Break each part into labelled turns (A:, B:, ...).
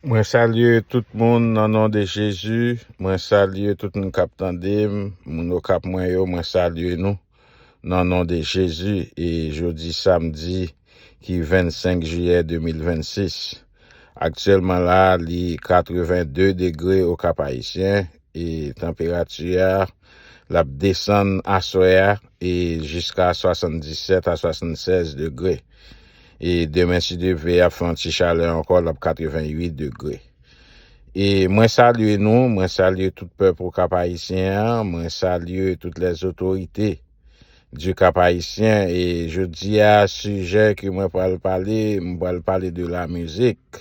A: Mwen salye tout moun nan non de Jezi. Mwen salye tout moun kap tande m, moun Okap mwen yo, mwen salye nou nan non de Jezi. E jodi samdi ki 25 jiyè 2026. Aktyèlman la li 82 degre Okap Ayisyen, E tanperati a l ap desann aswè a e jiska 77 a 76 degre. E demen si Dye vle ap fè yon ti chalè ankò l ap 88 degre. E mwen salye nou, mwen salye tout pèp okap ayisyen an, mwen salye tout les otorite di kap ayisyen e jodi a sijè ke mwen pral pale m pral pale de la mizik.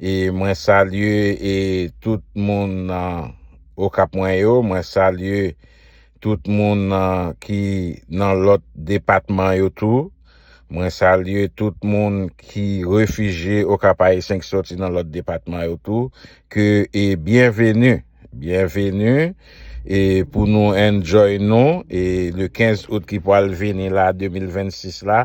A: E mwen salye e tout moun nan okap mwen yo, mwen salye tout moun nan ki nan lòt depatman yo tou. Mwen salye tout moun ki refije okap ayisyen ki soti nan lòt depatman yo tou ke e byenveni, byenveni e pou nou enjoy nou e le 15 out ki pwal vini la 2026 la.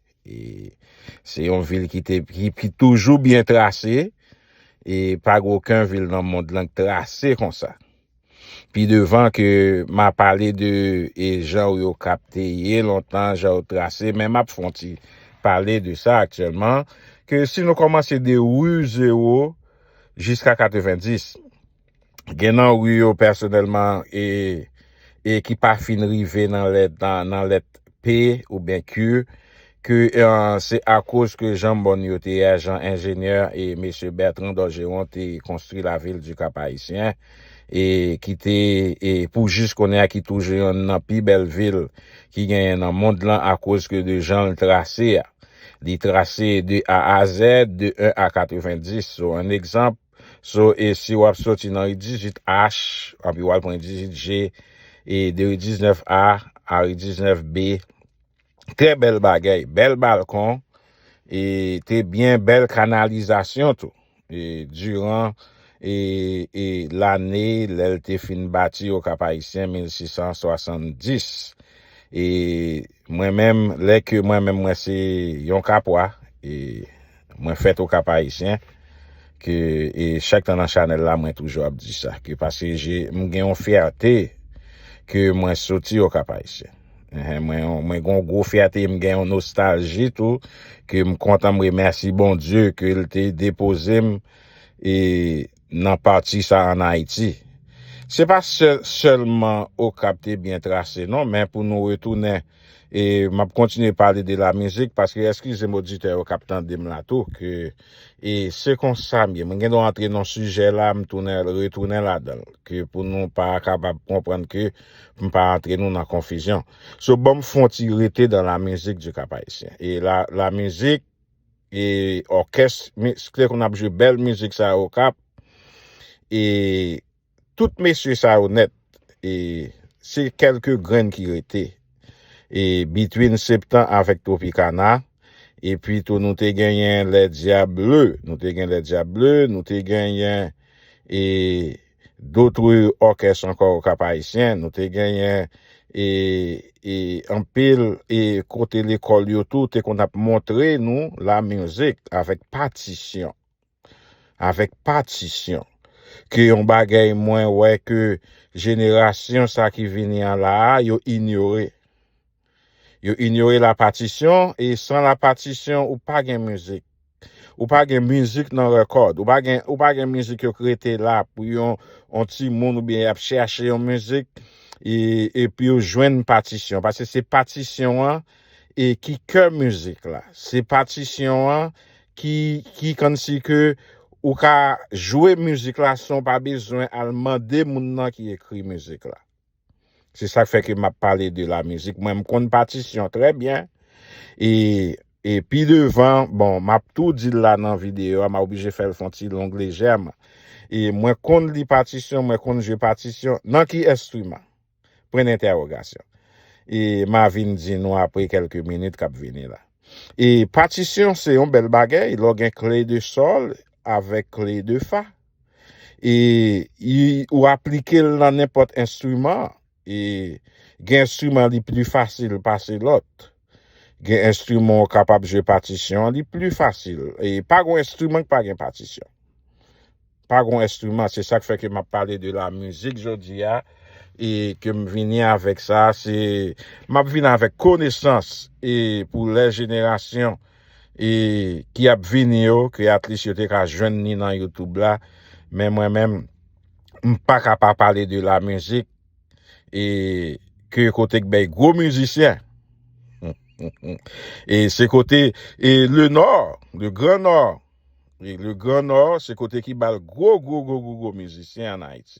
A: E se yon vil ki te ki toujou byen trase e pa gen oken vil nan mond lan ki trase konsa. Pi devan ke m a pale de e jan yo kap te ye lontan, jan yo trase men m ap fon ti pale de sa aktyèlman ke si nou kòmanse de ru 0 jiska 90. Gen nan ri yo pèsonèlman e e ki pa fin rive nan lèt nan lèt p oubyen q ke se akoz ke jan mòn yo te ye jan enjenyè e mesye Bertrand Dorgeron te konstwi lavil di Kap-Ayisyen e ki te e pou jis kounye a ki toujou yonn nan pi bèl vil ki genyen nan mond lan akoz ke de jan l trase a. Li trase de A a zèd, de 1 a 90. So an egzanp. So e si wap soti nan ri 18 H anpi wal pran ri 18 G e de ri 19 A a ri 19 B trè bèl bagay bèl balkon e te byen bèl kanalizasyon tou e diran e e lane lèl te fin bati okapayisyen 1670 e Mwen menm lè ke mwen menm mwen se yon kapwa e mwen fèt o kap ayisyen ke e chak tan nan chanèl la mwen toujou ap di sa ke pase je m gen yon fyète ke mwen soti o kap ayisyen ehe mwen yon mwen gen yon gwo fyète e m gen yon nostalji tou ke m kontan m remèsi Bondye ke l te depoze m e nan pati sa an Ayiti. Se pa sèl sèlman Okap te byen trase non men pou nou retounen e m ap kontinye pale de lamizik paske eskize m oditè yo k ap tande m la tou ke e se konsa m ye mwen gen dwa antre nan yon sijè la m tounen retounen ladan l ke pou nou pa kapab konprann ke pou m pa antre nou nan konfizyon so ban m fon ti rete dan lamizik di Kapayisyen e la lamizik E òkès miskle konn ap jwe bèl mizik sa yo okap e tout mesye sa yo nèt e se kelke grenn ki rete e between septan avèk tropikana e pi tou nou te genyen lè dyab bleu nou te gen lè dyab bleu nou te genyen e. d'autres orchestres encore au Cap Haïtien, nou te genyen e e anpil e kote lekòl yo tou te konn ap montre nou la music avèk patisyon, avèk patisyon ke yon bagay mwen wè ke jenerasyon sa ki vini an la a yo inyore. Yo inyore la patisyon e san la patisyon ou pa gen mizik. Ou pa gen mizik nan rekòd. Ou pa gen ou pa gen mizik yo k rete la pou yon yon timoun oubyen y ap chèche yon mizik e epi yo jwenn patisyon paske se patisyon an e ki kè mizik la. Se patisyon an ki ki kòmsi ke ou ka jwe mizik la san w pa bezwen al mande moun nan ki ekri mizik la. Se sak fè ke map pale de la mizik. Mwen m konn patisyon trè byen. E e pi devan, bon map tou dil la nan video a, ma oblije fèl fon ti long lejèman. E mwen konn li patisyon, mwen konn jwe patisyon. Nan ki enstriman? Pwen dentèwogasyon. E ma vin di nou apre kelke minit kap vini la. E patisyon se yon bèl bagay, lè w gen kle de sol avèk kle de fa. e ou aplike l nan nenpòt enstriman e gen enstriman li pli fasil pase lòt gen enstriman ou kapab jwe patisyon li pli fasil e pa gon enstriman ki pa gen patisyon pa gon enstriman se sak fè ke map pale de la mizik jodi a e ke m vini avèk sa se map vini avèk konesans e pou lè jenerasyon e ki ap vini yo ke atlis yo te ka jwenn ni nan youtube la men mwen menm m paka pa pale de la mizik e ke kote k bèy gwo mizisyen e se kote e le nò le gran nò le gran nò se kote ki bal gwo gwo gwo gwo gwo mizisyen an ayiti.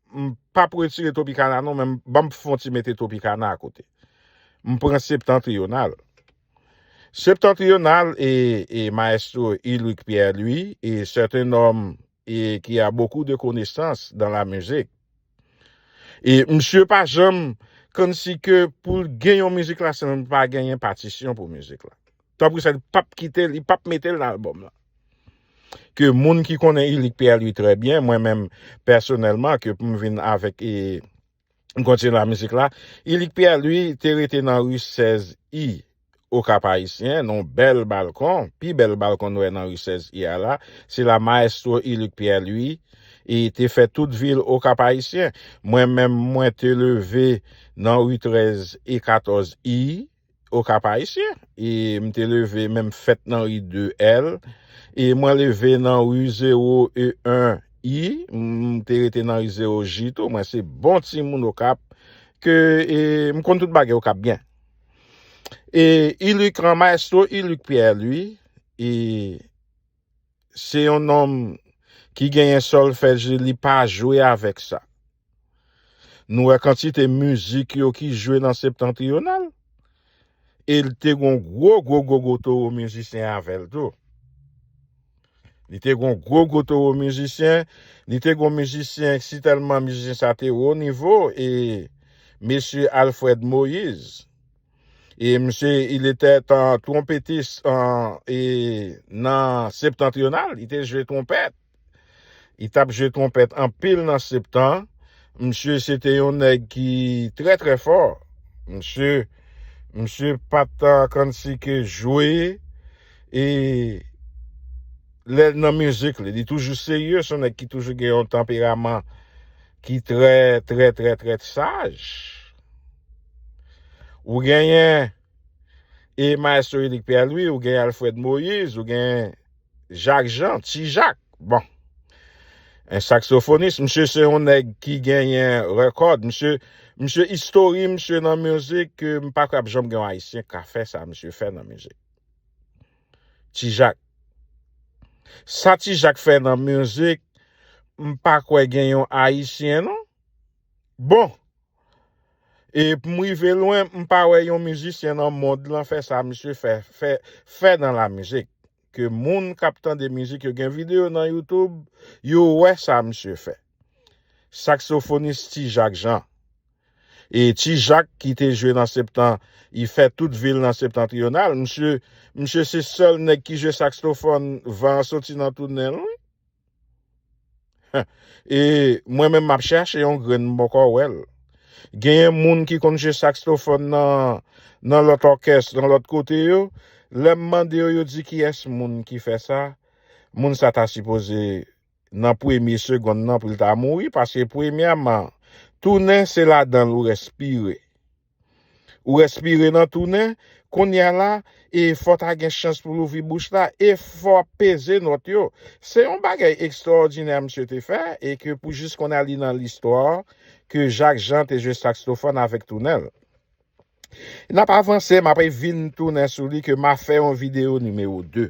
A: M pap retire Tropicana non men banm fon ti mete Tropicana a kote. M pran Septentrional. Septentrional e e maestro Ulrick Pierre Louis e c'est un homme e ki a beaucoup de konesans dans la musique. E msye pa janm kòmsi ke poul gen yon mizik la san pa genyen patisyon pou mizik la. Top Grisel pap kite, li pap mete l nan album lan. Ke moun ki konnen Ilik Pierre Louis trè byen, mwen menm pèsonèlman ke pou m vin avèk e m kontinye nan mizik la, Ilik Pierre Louis te rete nan ri 16 I o Kap Ayisyen, nan yon bèl balkon, pi bèl balkon nou wè nan ri 16 I a la, se la maestro Ilik Pierre Louis e te fè tout vi l o Kap Ayisyen. Mwen menm mwen te leve nan ri 13 e 14 I. au Cap Haïtien e m te leve men m fèt nan ri 2 L e mwen leve nan ri 0 E 1 I m te rete nan ri 0 J tou mwen se bon timoun Okap ke e m konn tout bagay Okap byen e Ilucran maestro Iluc Pierre Louis e Se yon nonm ki genyen solfèji li pa jwe avèk sa. Nou wè kantite mizik yo ki jwe nan septentrional. E li te gon gwo gwo gwo gwo towo mizisyen avèl tou. Li te gon gwo gwo towo mizisyen, li te gon mizisyen si tèlman mizisyen sa te wo nivo e Mesye Alfred Moïse. E misye il etè tan twonpetis e nan septentrional, li te jwe twonpèt. Li tap jwe twonpèt anpil nan septan. Misye se te yon nèg ki trè trè fò. Misye misye pat kansi ke jwe e lè nan mizik li, li toujou serye, son nèg ki toujou gen yon tanperaman ki trè trè trè trè saj. Ou genyen e maestro Elik Pierre-Louis, ou genyen Alfred Moïse, ou genyen Jacques Jean, Ti Jacques. Bon. Un saxophoniste, msye se yon nèg ki genyen record, msye msye history msye nan music ke m pa kwè ap janm gen yon ayisyen ka fè sa msye fè nan music. Ti Jacques. Sa Ti Jacques fè nan music m pa kwè gen yon ayisyen non. Bon. E pou m rive lwen, m pa wè yon mizisyen nan mond lan fè sa misye fè fè fè nan la mizik. Ke moun k ap tande mizik yo gen videyo nan YouTube, yo wè sa misye fè. Saksofonis Ti Jak Jan. E Ti Jak ki te jwe nan septan, i fè tout vi l nan septantriyonal. Misye, misye se sèl nèg ki jwe sakstofòn van an soti nan tou nen l wi. E mwen menm map chache yon grenn m poko wèl. Genyen moun ki konn jwe saxophone nan nan lòt orkès, nan lòt kote yo, lèm mande yo yo di kiyès moun ki fè sa, moun sa ta sipoze nan premye segonn nan pou l ta mouri paske premyèman tounen se ladanl ou respire. Ou respire nan tou nen, kounye a la, e fò ta gen chans pou louvri bouch la, e fò ap peze nòt yo. Se yon bagay ekstrawòdinè msye te fè, e ke pou jis kounye a li nan listwa, ke Jak Jan te jwe sakstofòn avèk tou nen l. N ap avanse, m apre vin tounen sou li ke m a fè yon videyo nimewo 2.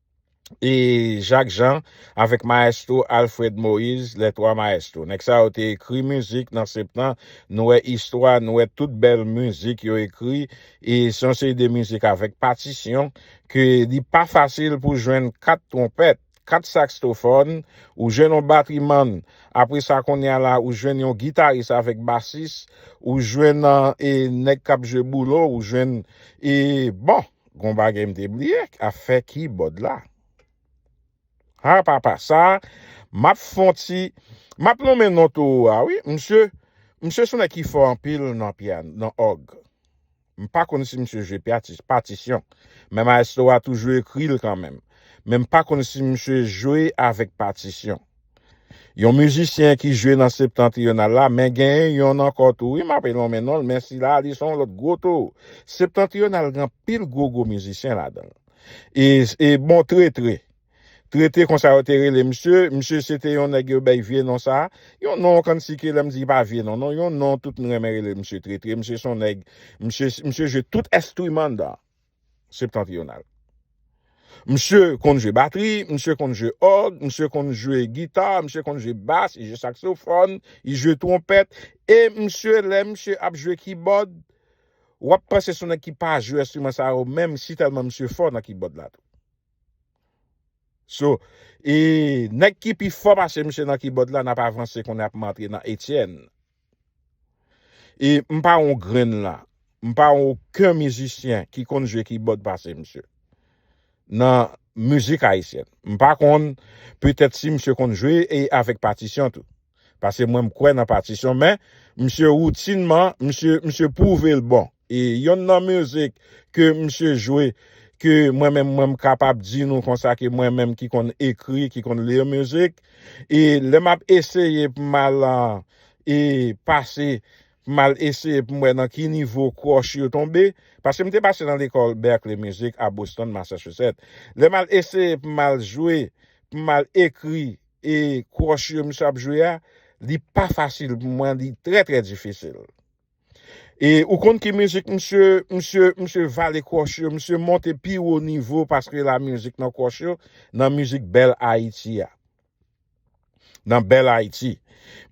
A: e Jacques Jean avèk maestro Alfred Moïse les trois maestros nèg sa yo te ekri mizik nan septan nou wè istwa nou wè tout bèl mizik yo ekri e se yon seri de mizik avèk patisyon ke li pa fasil pou jwenn 4 twonpèt 4 sakstofòn ou jwenn yon batrimann apre sa konnya la ou jwenn yon gitaris avèk basis ou jwenn e nèg k ap jwe boulo ou jwenn e bon. Gon bagay m te bliye afè kibòd la. Ha papa sa map fon ti map lonmen non towo a wi misye misye son nèg ki fò anpil nan piano nan òg m pa konn si misye jwe piatis patisyon men maestro a toujou ekri l kanmenm men m pa konn si misye jwe avèk patisyon. Yon mizisyen ki jwe nan Septentrional la, men gen yonn ankò tou wi m'ape lonmen non l men sila a li son w lòt gwo tou. Septentrional gen anpil gwo gwo mizisyen ladan l. E e bon Tretre. Tretre konsa yo te rele misye, misye se te yon nèg yo bay vye non sa a, yon non kansi ke lè m di li pa vye non non, yon non tout n renmen rele l misye Tretre, misye son nèg, misye misye jwe tout estriman dan. Septentrional. Msye konn jwe batri, msye konn jwe òg, msye konn jwe gita, msye konn jwe bas, li jwe saksofòn, li jwe twonpèt, e msye lè msye ap jwe kibòd, w ap panse se yon nèg ki pa jwe enstriman sa yo menm si tèlman msye fò nan kibòd la tou. So, e nèg ki pi fò pase msye nan kibòd la, n ap avanse kounye a pou m antre nan Etienne. E m pa yon grenn la, m pa yon oken mizisyen ki konn jwe kibòd pase misye. Nan mizik ayisyèn. M pa konn, petèt si misye konn jwe e avèk patisyon tou. Pase mwen m kwè nan patisyon men, misye woutinman, misye pwouve l bon. E yonn nan mizik ke misye jwe ke mwen menm mwen m kapab di nou konsa ke mwen menm ki konn ekri, ki konn lire mizik e lè map eseye pou m al e pase pou m al eseye pou m wè nan ki nivo kròch yo tonbe paske m te pase nan lekòl Berklee Music a Boston Massachusetts lè m al eseye pou m al jwe pou m al ekri e kròch yo misye ap jwe a li pa fasil pou mwen li trè trè difisil. E ou konn ki mizik misye, misye, misye vale kwòch yo, misye monte pi wo nivo paske la mizik nan kwòch yo, nan mizik Bèl Ayiti a. Nan Bèl Ayiti.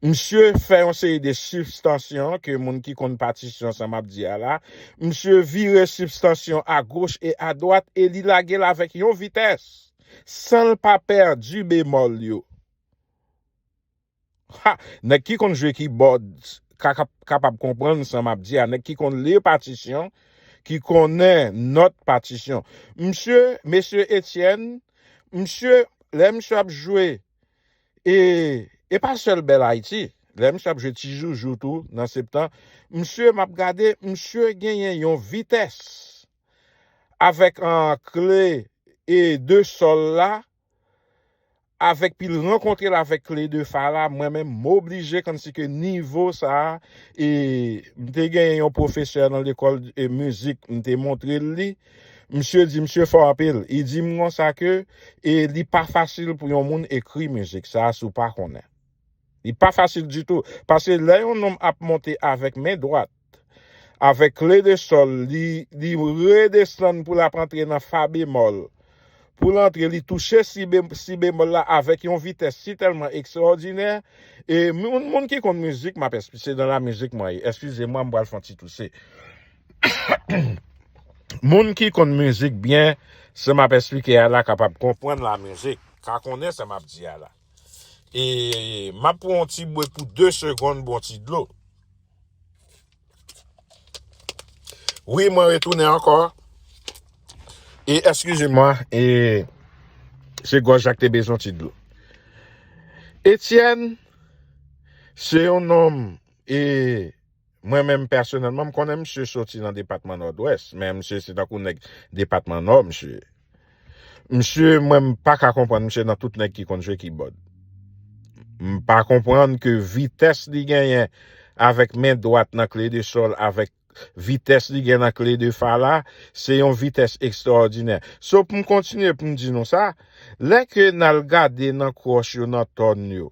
A: Misye fè yon seri de sibstansyon ke moun ki konn patisyon sa map di a la, misye vire sibstansyon a goch e a dwat e li lage l avèk yon vitès san l pa pèdi bemòl yo. Ha! Nèg ki konn jwe kibòd ka kapab konprann sa map di a, nèg ki konn li patisyon, ki konnen nòt patisyon. Msye, Mesye Etienne, msye, lè msye ap jwe e e pa sèl Bèl Ayiti, lè msye ap jwe Ti Joujou tou nan Septan, msye map gade, msye genyen yon vitès avèk an kle e de sòl la, avèk pi l rankontre l avèk kle de fa la mwen menm m oblije kòmsi ke nivo sa e m te genyen yon pwofesè nan lekòl mizik m te montre l li msye di msye fò anpil li di m konsa ke e li pa fasil pou yon moun ekri mizik sa si w pa konnen li pa fasil ditou paske lè yon nonm ap monte avèk men dwat avèk re de sol li li redesann pou lap antre nan fa bemòl pou l antre li touche si si bemòl la avèk yon vitès si tèlman ekstraòdinè e moun moun ki konn mizik map espli se nan la mizik mwen ye eskize mwen mpral fon ti touse moun ki konn mizik byen sa map esplike a la kapab konprann la mizik ka konnen sa map di a la. E map pran yon ti bwe pou 2 seconde bon ti dlo. Wi mwen retounen anko. E eskize mwen e se goj la ki te bezwen yon ti dlo. Etienne se yon nonm e Mwen menm pèsonèlman m konnen misye soti nan depatman Nòdwès, men misye se tankou nèg depatman Nò misye ye. Misye mwen m pa ka konprann misye nan tout nèg ki konn jwe kibòd. M pa konprann ke vitès li genyen avèk men dwat nan kle de sòl avèk vitès li gen nan kle de fa la, se yon vitès ekstraòdinè. So pou m kontinye pou m di nou sa, lè ke n al gade nan kwòch yo nan tòn yo,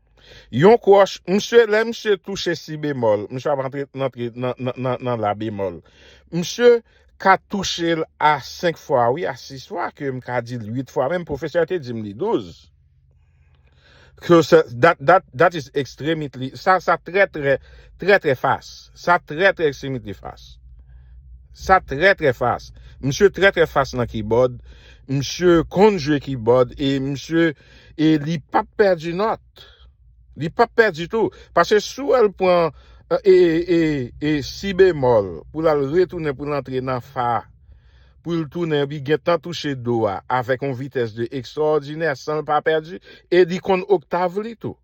A: Yon kwoch, misye lè misye touche si bemòl, misye ap antre nan tre nan nan nan nan la bemòl. Misye ka touche l a 5 fwa wi, a 6 fwa ke m ka di l 8 fwa menm, pwofesè a te di m li 12. Ke se dat dat dat is extremitely sa sa trè trè trè trè fas. Sa trè trè extremitely fas. Sa trè trè fas. Misye trè trè fas nan kibòd. Misye konn jwe kibòd e misye E li pap pèdi nòt. Li pap pèdi tou. Pase si wè l pran e, e, e, si bemòl pou l al retounen pou l antre nan fa pou l tounen epi gentan touche do a avèk yon vitès de ekstrawòdinè san l pa pèdi e li konn oktav li tou.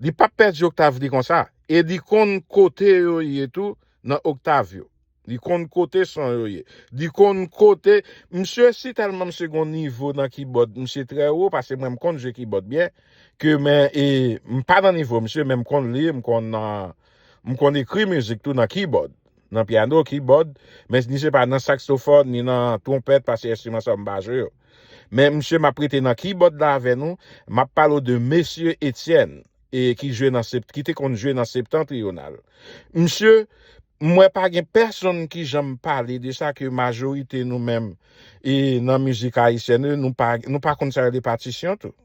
A: Li pap pèdi Octavie konsa e li konn kote yo ye tou nan Octavio. Li konn kote son yo ye. Li konn kote misye si tèlman misye gon nivo nan kibòd misye trè wo pase mwen m konn jwe kibòd byen ke men e m pa nan nivo misye men m konn li m konn m konn ekri mizik tou nan kibòd nan pyano kibòd men ni se pa nan saksofòn ni nan twonpèt pase enstriman sa yo m pa jwe yo. Men msye map rete nan kibòd la avè nou, map pale w de Mesye Etyèn e ki jwe nan sept ki te konn jwe nan Septentrional. Msye, m wè pa gen pèsonn ki janm pale de sa ke majorite nou menm e nan mizik ayisyèn e nou pa nou pa konn sa rele patisyon tou.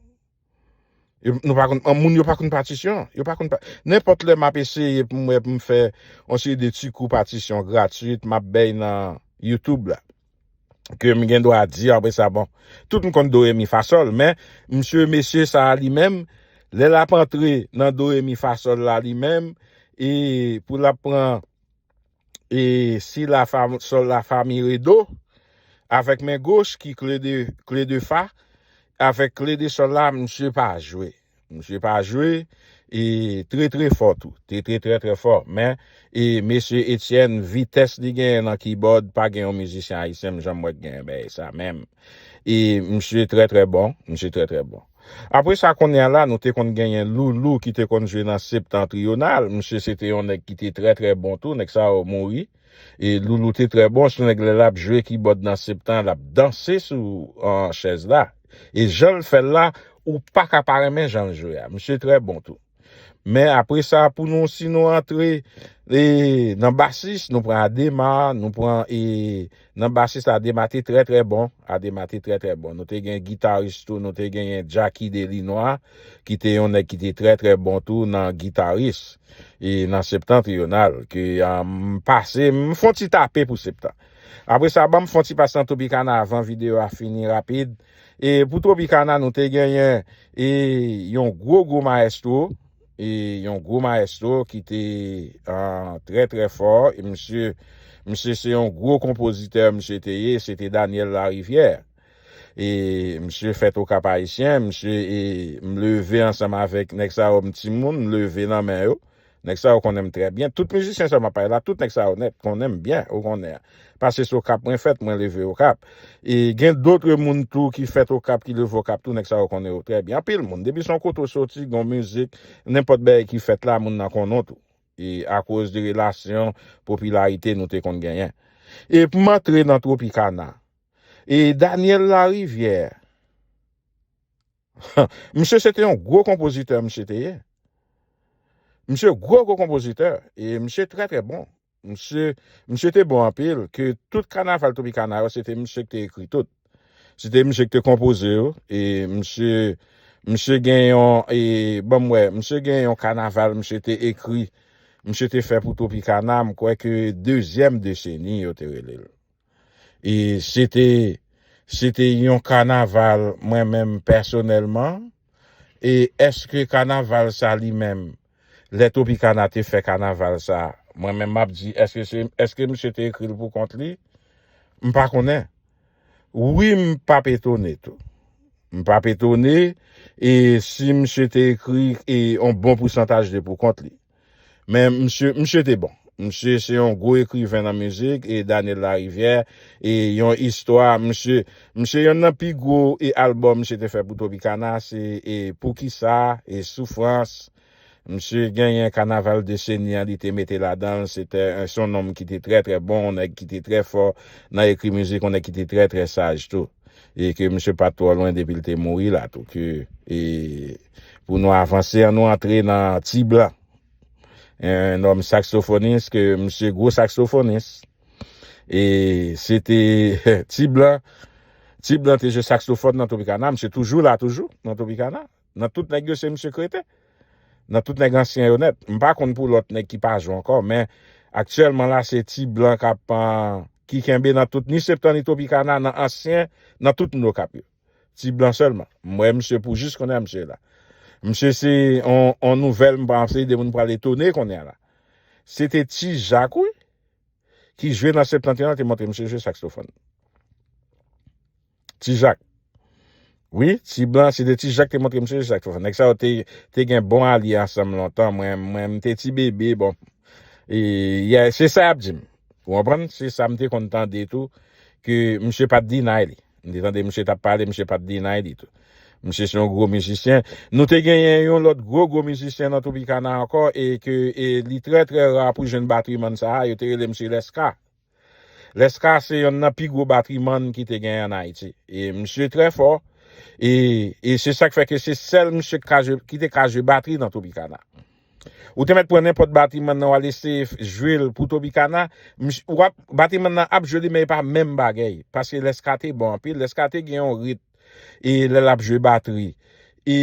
A: Yo, nou pa konn, an moun yo pa konn patisyon. Yo pa konn pa, nenpòt lè map eseye pou mwen pou m fè yon seri de ti kou patisyon gratuit map bèy nan youtube la. Ke m gen dwa di apre sa bon, tout m konn do re mi fa sòl men msye mesye sa a li menm lè lap antre nan do re mi fa sòl la li menm e pou lap pran E si la fa sol la fa mi re do avèk men goch ki kle de kle de fa avèk kle de sol la misye pa jwe misye pa jwe e tre tre fò tou te tre tre tre fò men e mesye Etienne vitès li genyen nan kibòd pa gen yon mizisyen ayisyen m janm wè ki genyen bèy sa menm e misye tre tre bon misye tre tre bon. Apre sa konnya la nou te konn genyen loulou ki te konn jwe nan septentrional misye se te yon nèg ki te trè trè bon tou nèg sa yo mouri e loulou te trè bon sou nèg lè lap jwe kibòd nan septan lap danse sou chèz la e janl fèl la ou paka pa renmen janl jwe a misye trè bon tou. Men apre sa pou nou si nou antre e nan basis nou pran Adema, nou pran e nan basis la Adema te trè trè bon, Adema te trè trè bon. Nou te gen gitaris tou, nou te genyen Jacky Delinois ki te yon nèg ki te trè trè bon tou nan gitaris e nan Septentrional ke m pase m fon ti tape pou Septan. Apre sa banm fon ti pase nan Tropicana avan video a fini rapid. E pou Tropicana nou te genyen e yon gwo gwo maestro, e yon gwo maestro ki te trè trè fò, e misye, misye se yon gwo konpozitè misye te ye, se te Daniel Larivière. E misye fèt o Kap Ayisyen, misye e m leve ansanm avèk nèg sa yo m timoun, m leve nan men yo. Nèg sa yo konnen m trè byen. Tout mizisyen sa yo m ap pale la, tout nèg sa yo nèt konnen m byen, ou konnen. Pase se Okap mwen fèt, mwen leve Okap. E gen dotre moun tou ki fèt Okap, ki leve Okap tou, nèg sa yo konnen yo trè byen. Anpil moun, depi se yon kote ou soti, gen yon mizik, nenpòt bagay ki fèt la, moun nan konnen w tou. E akoz de relasyon, popilarite nou te konn genyen. E pou m antre nan Tropicana. E Daniel Larivière. Misye se te yon gwo konpozitè misye te ye. Misye gwo gwo konpozitè e misye trè trè bon. Misye misye te bon anpil ke tout kanaval Tropicana yo se te misye ki te ekri tout. Se te misye ki te konpoze yo e misye misye gen yon e banm wè, misye gen yon kanaval misye te ekri, misye te fè pou Tropicana, m kwè ke dezyèm deseni yo te rele l. e se te se te yon kanaval mwen menm pèsonèlman e eske kanaval sa li menm lè Tropicana te fè kanaval sa mwen menm map di eske se eske misye te ekril pou kont li m pa konnen wi m pap etone tou m pap etone e si misye te ekri e yon bon pousantaj de pou kont li. Men msye, msye te bon. Msye se yon gwo ekriven nan mizik e Daniel Lariviere e yon istwa msye, msye yonn nan pi gwo e album msye te fè pou Tropicana se e Poukisa e Soufrans msye genyen kanaval deseni an li te mete ladanl se te un son nonm ki te trè trè bon yon nèg ki te trè fò nan ekri mizik yon nèg ki te trè trè saj tou e ke msye pat twò lwen depil te mouri la tou ke e. Pou nou avanse an nou antre nan Ti Blan. Yon nonm saksofonis ke misye gwo saksofonis. E se te Ti Blan, Ti Blan te jwe saksofòn nan Tropicana, misye toujou la toujou nan Tropicana. Nan tout nèg yo se misye k rete. Nan tout nèg ansyen yo nèt. M pa konn pou lòt nèg ki pa jwe ankò men aktyèlman la se Ti Blan k ap ki kenbe nan tout ni Septan ni Tropicana nan ansyen nan tout n okap yo. Ti blan selman. M wè misye pou jis kounye a misye la. Misye se yon nouvèl m panse de moun pral etone kounye a la. Se te Ti Jak wi ki jwe nan Septentrional te montre misye jwe saksofòn. Ti Jak. Wi, ti blan se te Ti Jak te montre misye jwe saksofòn. Nèg sa yo te gen bon alye ansanm lontan. Mwen m te ti bebe bon. E se sa y ap di m. Ou konprann? Se sa m te konn tande tou ke misye pa t deny li. M te tande misye t ap pale, misye pa t deny li tou. Misye se yon gwo mizisyen. Nou te genyen yon lòt gwo gwo mizisyen nan Tropicana ankò e ke e li trè trè ra pou jwenn batrimann sa a, yo te rele misye Lescka. Lescka se yonn nan pi gwo batrimann ki te genyen ann Ayiti. E misye trè fò e e se sa k fè ke se sèl misye k ka jwe ki te ka jwe batri nan Tropicana. Ou te mèt pran nenpòt batiman nan wal eseye jwel pou topikana misye wap batiman nan ap jwe li men epa menm bagèy paske lèskate bon anpil lèskate gen yon rit e lèl ap jwe batri e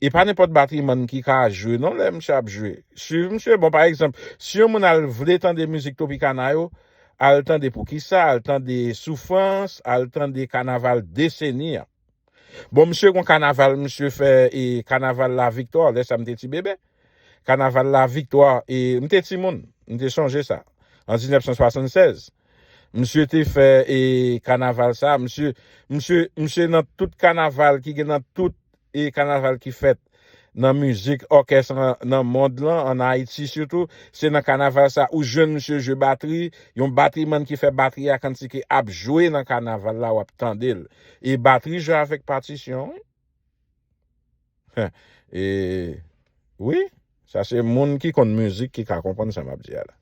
A: epa nenpòt batiman ki ka jwe non lè misye ap jwe swiv misye bon pa egzanp si yon moun al vle tande mizik topikana yo al tande poukisa al tande soufrans al tande kanaval deseni an. Bon misye gon kanaval misye fè e kanaval la viktwa lè sa m te ti bebe. Kanaval la viktwa e m te ti moun, m te sonje sa. An 1976, misye te fè e kanaval sa, misye misye misye nan tout kanaval ki gen nan tout e kanaval ki fèt nan mizik òkès nan mond lan, an Ayiti sitou, se nan kanaval sa ou jwenn misye jwe batri, yon batrimann ki fè batri a kantike ap jwe nan kanaval la wap tande l. E batri jwe avèk patisyon wi. E wi, sa se moun ki konn mizik ki ka konprann sa map di a la.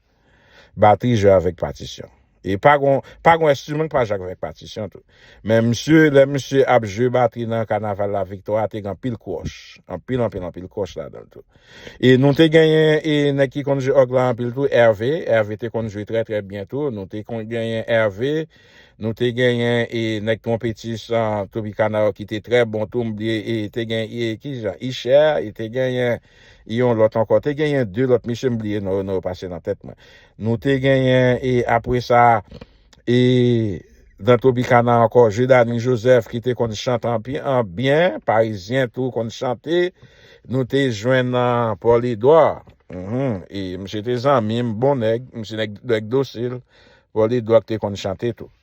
A: Batri jwe avèk patisyon. E pa gon pa gon enstriman ki pa jwe avèk patisyon tou. Men misye, lè misye ap jwe batri nan kanaval laviktwa a te gen anpil kwòch. Anpil, anpil, anpil kwòch ladan l tou. E nou te genyen e nèg ki konn jwe òg la anpil tou, Ève. Ève te konn jwe trè trè byen tou. Nou te konn genyen Ève. Nou te genyen e nèg twonpetis an, Tropicana yo ki te trè bon tou. M bliye e te gen e ki jan Ichè. E te genyen. Yon lòt ankò. Te genyen de lòt mesye m bliye non yo non yo pase nan tèt mwen. Nou te genyen e apre sa e nan Tropicana ankò Jeudanis Joseph ki te konn chante anpi an byen, parizyen tou konn chante. Nou te jwenn Paul Edouard. Hum e misye te zanmi m, bon nèg, misye nèg nèg dosil. Paul Edouard te konn chante tou.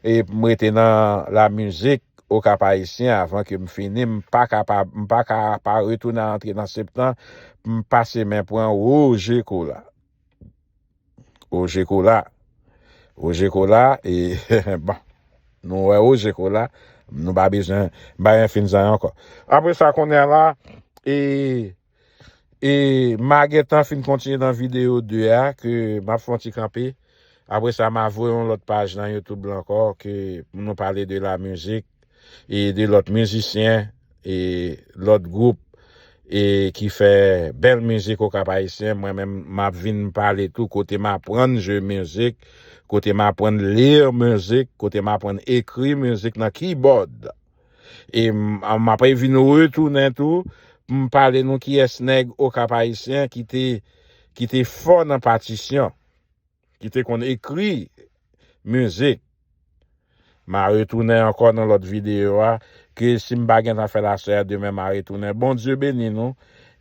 A: m rete nan la musique au cap haïtien avan ke m fini m pa ka pa m pa ka pa retounen antre nan septan pou m pase men pran Roger Cola Roger Cola Roger Cola e bon nou wè Roger Cola nou pa bezwen bayen fin zan ankò apre sa konnen la e E ma gentan fin kontinye nan video 2 a ke map fè yon ti kanpe. Apre sa ma voye yon lòt paj nan YouTube lan ankò ke pou nou pale de la mizik e de lòt mizisyen e lòt gwoup e ki fè bèl mizik Okap Ayisyen. Mwen menm map vin pale tou kote m aprann jwe mizik, kote m aprann lire mizik, kote m aprann ekri mizik nan keybòd. E m ap vin retounen tou pou m pale nou kiyès nèg Okap Ayisyen ki te ki te fò nan patisyon, ki te konn ekri mizik. M a retounen ankò nan lòt videyo a, ke si m pa gentan fè l aswè a, demen m a retounen. Bondye beni nou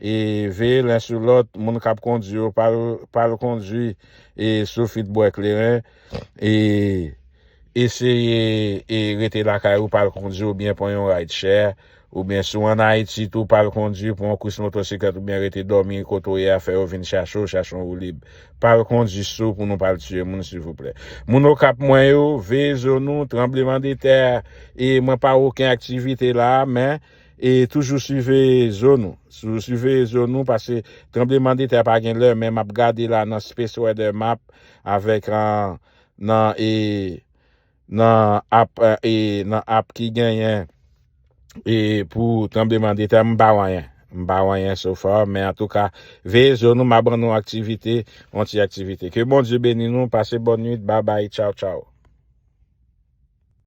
A: e veye len sou lòt, moun k ap kondui yo pa l kondui e sou fit bwè kleren. e eseye e rete lakay ou pa al kondwi oubyen pran yon rideshè oubyen si w an Ayiti tou pa al kondwi pran yon kous motosiklèt oubyen rete dòmi kote w ye a fè yo vin chache w chache yon woulib pa al kondwi sou pou nou pa al tiye moun silvouplè moun okap mwen yo veye zo nou tranbleman de tè e mwen pa wè oken aktivite la a men e toujou siveye zo nou toujou siveye zo nou paske tranbleman de tè pa gen lè men map gade la nan space weather map avèk nan e nan ap e nan ap ki genyen e pou tranbleman de tè m pa wanyen m pa wanyen sofa men antouka veye zo nou ma ban nou aktivite yon ti aktivite ke Bondye beni nou pase bòn nwit babay tchaw tchaw.